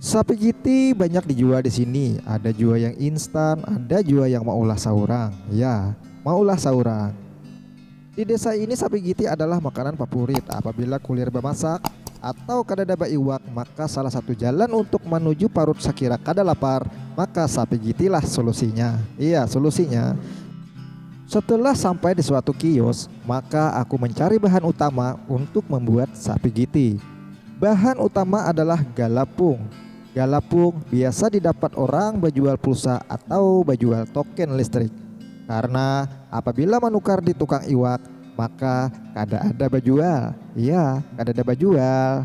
Sapi kiti banyak dijual di sini, ada jua yang instan, ada jua yang maulah saurang. Ya, maulah saurang. Di desa ini sapi kiti adalah makanan fapurit apabila kulir bamasak atau kadada baiwak maka salah satu jalan untuk manuju parut sakira kada lapar maka sapi kitilah solusinya. Iya, solusinya. Setelah sampai di suatu kios, maka aku mencari bahan utama untuk membuat sapi kiti. Bahan utama adalah galapung. Galapung biasa didapat orang bajual pulsa atau bajual token listrik. Karena apabila manukar di tukang iwak, maka kada ada bajual. Iya, kadada bajual.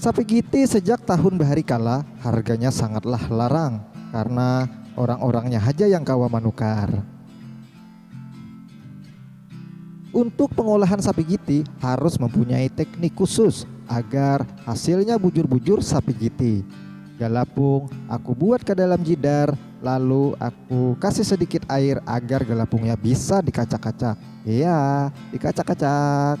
Sapigiti sejak tahun bahari kala harganya sangatlah larang karna orang-orangnya haja yang kawa manukar. Untuk pengolahan sapigiti harus mempunyai teknik khusus agar hasilnya bujur-bujur sapigiti. Galapung aku buat ka dalam jidar lalu aku kasih sedikit air agar galapungnya bisa dikacak-kacak. Heaa, dikacak-kacak.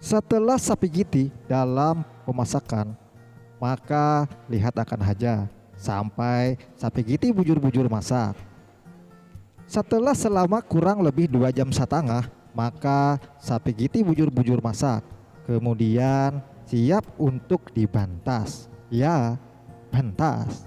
Setelah sapigiti dalam pemasakan, maka lihat akan haja sampai sapigiti bujur-bujur masak. Setelah selama kurang lebih dua jam satangah, maka sapigiti bujur-bujur masak, kemudian siap untuk dibantas. Ya, bantas!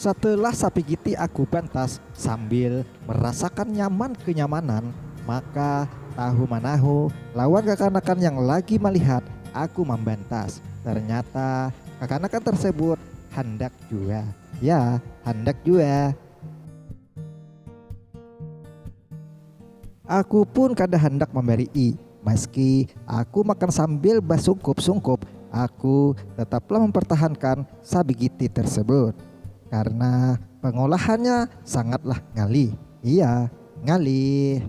Setelah sapigiti aku bantas sambil merasakan nyaman kenyamanan, maka tahu manahu lawan kakanakan yang lagi malihat aku mambantas, ternyata kakanakan tersebut handak jua, ya handak jua. Aku pun kada handak mambarii, Maski aku makan sambil basungkup-sungkup, aku tetaplah mempertahankan sabigiti tersebut. Karena pengolahannya sangatlah ngalih. Iya, ngalih.